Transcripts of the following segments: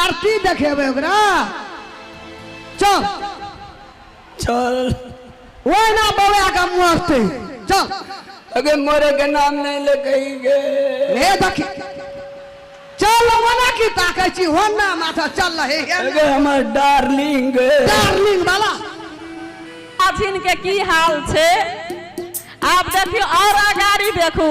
आरती देखेबै ओकरा चल चल ओहिना बौआ के मस्ती चल अगे मोरे के नाम नहीं ले कही गे हे देखी चल मना की ताकै छी होना माथा चल रहे हे अगे हमर डार्लिंग गे डार्लिंग वाला अथिन के की हाल छै आब देखियो और अगाड़ी देखू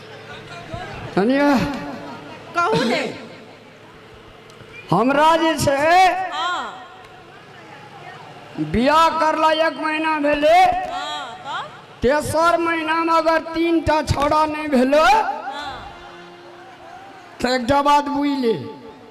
कनिया कहू ने हमरा जे छै हाँ बियाह करला एक महीना भेलै हाँ तब तेसर महीनामे अगर तीन टा छौड़ा नहि भेलै हाँ तऽ एकटा बात बुझि ले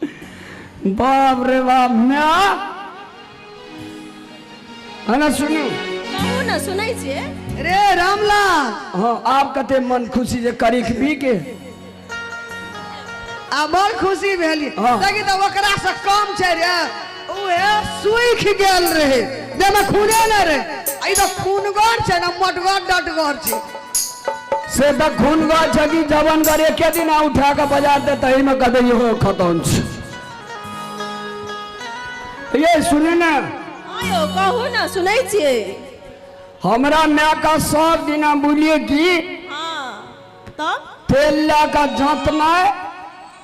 बाप रे बाप माय हना सुनू कहू ने सुनै छियै रे रामलाल हाँ आप कते मन खुशी जे करीख भी के आ बड़ खुशी भेली हाँ। देखी तऽ ओकरा से कम छै रे ओहे सूख गेल रहे देमे खूने न रहे आई तो खूनगर छे ना मोटगर डटगर छे से त खून गए छ कि जवन गरे के दिन आ उठा के बाजार दे तही में कदे यो खतम छ ये सुने ना आयो कहू ना सुनै छियै हमरा माय का सब दिना बोलिए कि हाँ तब तेल ला का जात में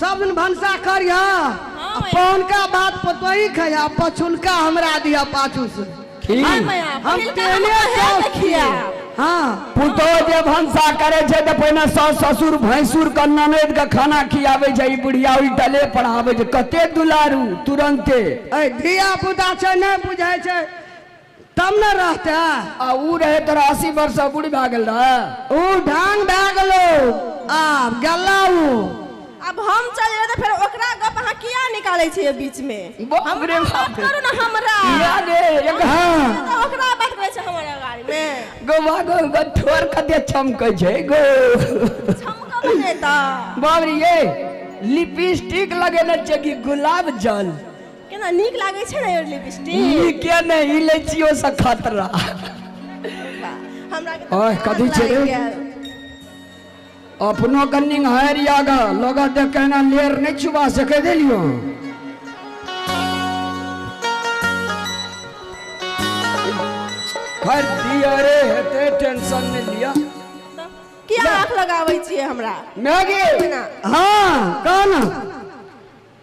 सब दिन भनसा करिह हँ आ माया। पहुनका बात पतोही खैह आ पछुलका हमरा दिह पाछू से ठीक हँ माया, हम पहिलका तेहने हमरा हेत सौख छियै खियाब। हँ पुतोह जे भनसा करे छै तऽ पहिने सास ससुर भैंसुर के ननद के खाना खियाबे छै ई बुढ़िया उल्टले पर आबे छै कते दुलारू तुरंते ऐ धिया पुता छै नहि बुझै छै तब न रहते आ ऊ रहे तोरा अस्सी वर्ष से बूढ़ी भा गेल रहे ऊ ढांग भा गेलो आब गल्ला ऊ अब हम चल जेबै तऽ फेर ओकरा गप अहाँ किया निकालै छियै बीच में बाप हमरा रे बाप बात रे। करू ने हमरा या रे एक हाँ तऽ ओकरा बात करै छै हमरा गाड़ी में गोवा गो गो ठोर कते चमकै छै गो छमका बने तऽ बाबरी ये लिपस्टिक लगेने छै कि गुलाब जल केना नीक लागै छै ने लिपस्टिक नीके ने ई लै छियो से खतरा हमरा ओह कथी छै रे अपनो कन्नी हर यागा लोग देख के ना लेर नहीं छुबा सके देलियो हर दिया रे हेते टेंशन नहीं लिया किया आंख लगाबै छियै हमरा मैगी हां कौन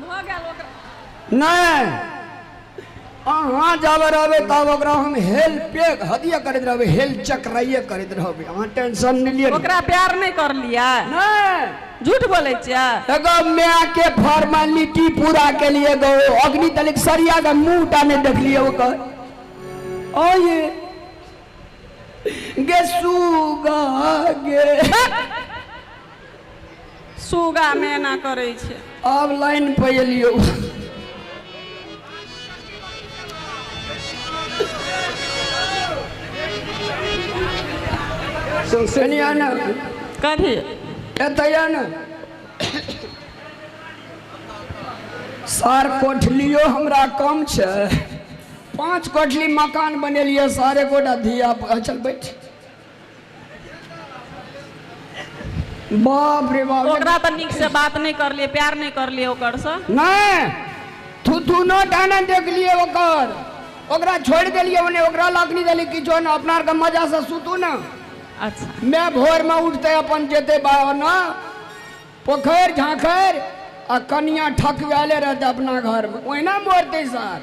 भऽ गेल ओकरा नहि अहाँ जाबे रहबै तब ओकरा हम हेल पेक हदिया करैत रहबै हेल चक्राइए करैत रहबै अहाँ टेंशन नहि लिअ ओकरा प्यार नहि करलियै नहि झूठ बोलै छियै एगो माय के फॉर्मेलिटी पूरा के लिए गो अग्नि तलिक सरिया के मुंह टा नहीं देखलिए ओकर ओ ये गे सुगा गे सुगा मेना करै छै अब लाइन पर एलियो कनी आना कथी एतय आना सार कोठलियो हमरा कम छै पाँच कोठली मकान बनेलियै सारे गोटा धिया पुता चल बैठ बाप रे बाप ओकरा तऽ नीक से बात नहि करलियै प्यार नहि करलियै ओकर से नहि तू दुनो डाना देखलिए ओकर ओकरा छोड़ देलिए ओने ओकरा लकड़ी देली किछो ने अपना आरके मजा से सुतू ने अच्छा मैं भोर में उठते अपन जेते बाबा ना पोखर झांखर आ कनिया ठकवाले रहते अपना घर में ओहिना मोरते सर